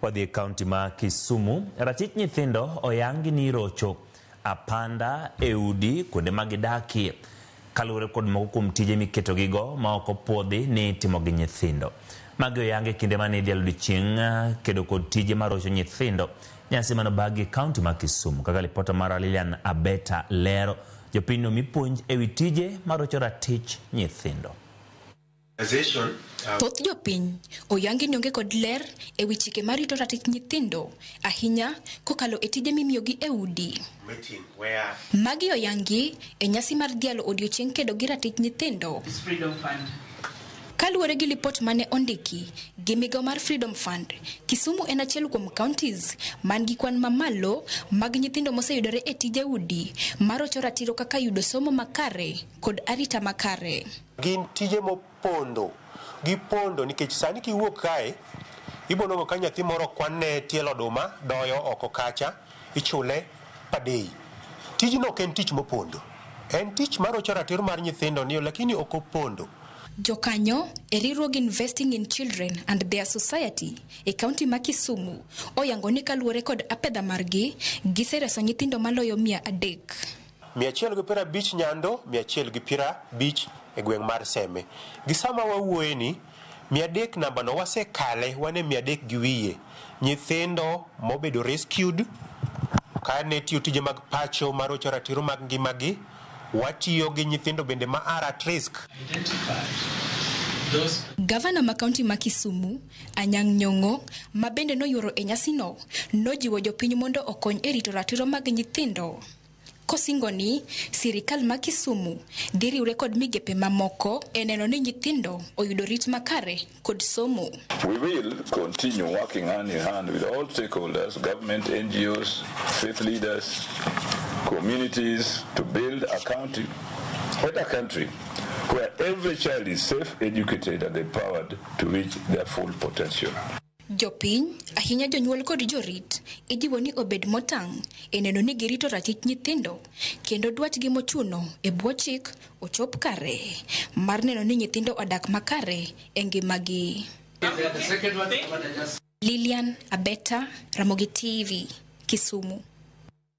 Wadhi e kaunti ma Kisumu. Ratich nyithindo oyangi ni irocho apanda e udi kuonde ma gidakie kaluwore kod moko kuom tije miketogigo ma ok opuodhi ni itimo gi nyithindo. Magi oyang e kinde mane idhialo odiechieng kedo kod tije marocho nyithindo, nyasi mane obagi e kaunti ma Kisumu. Kaka lipota mara Lilian Abeta lero, jopinyno omi puonj e wi tije marocho ratich nyithindo. Organization, uh, Thoth jopiny oyangi ni onge kod ler e wi chike marito ratich nyithindo, ahinya kokalo e tije mimiyogi e udi. meeting where Magi oyangi e nyasi mar dhialo odiechieng kedo gi ratich nyithindo. is Freedom Fund. Kaluwore gi lipot mane ondiki gi migawo mar Freedom Fund, Kisumu en achiel kuom counties man gi kwan mamalo mag nyithindo moseyudore e tije udi marocho ratiro kaka yudo somo makare, kod arita makare. Gin tije mopondo, gipondo nikech sani kiwuok kae ibonongo ka nyathi moro kwanne tielo oduma doyo oko kacha ichule per day. Tijno ok en tich mopondo, en tich marocho ratiro mar nyithindo ni lakini ok opondo. Jokanyo e riwruog Investing in Children and their Society e kaunti ma Kisumu oyango ni kaluwore kod apedha margi, gisereso nyithindo maloyo mia adek. Mia achiel gi piero abich Nyando, mia achiel gi piero abich e gweng' mar Seme. Gi sama wawuoye ni, mia adek namba no wasekale wan e mia adek gi wiye. Nyithindo mobedo rescued kane tiyo tije mag pacho marocho ratiro mag ngima gi. Watiyo gi nyithindo bende ma are at risk. Gavana ma kaunti ma Kisumu, Anyang' Nyong'o, ma bende noyuoro e nyasino, nojiwo jopiny mondo okony e rito ratiro mag nyithindo. kosingo ni sirikal ma Kisumu dhi riwre kod migepe mamoko e neno ni nyithindo oyudo rit makare kod somo. We will continue working hand in hand with all stakeholders, government, NGOs, faith leaders, communities to build a county and a country where every child is safe, educated and empowered to reach their full potential. Jopiny, ahinya jonyuol kod jorit, ijiwo ni obed motang' e neno ni girito ratich nyithindo kendo dwachgi mochuno e bwo chik ochop kare mar neno ni nyithindo odak makare e ngimagi. Lilian Abeta, Ramogi TV, Kisumu.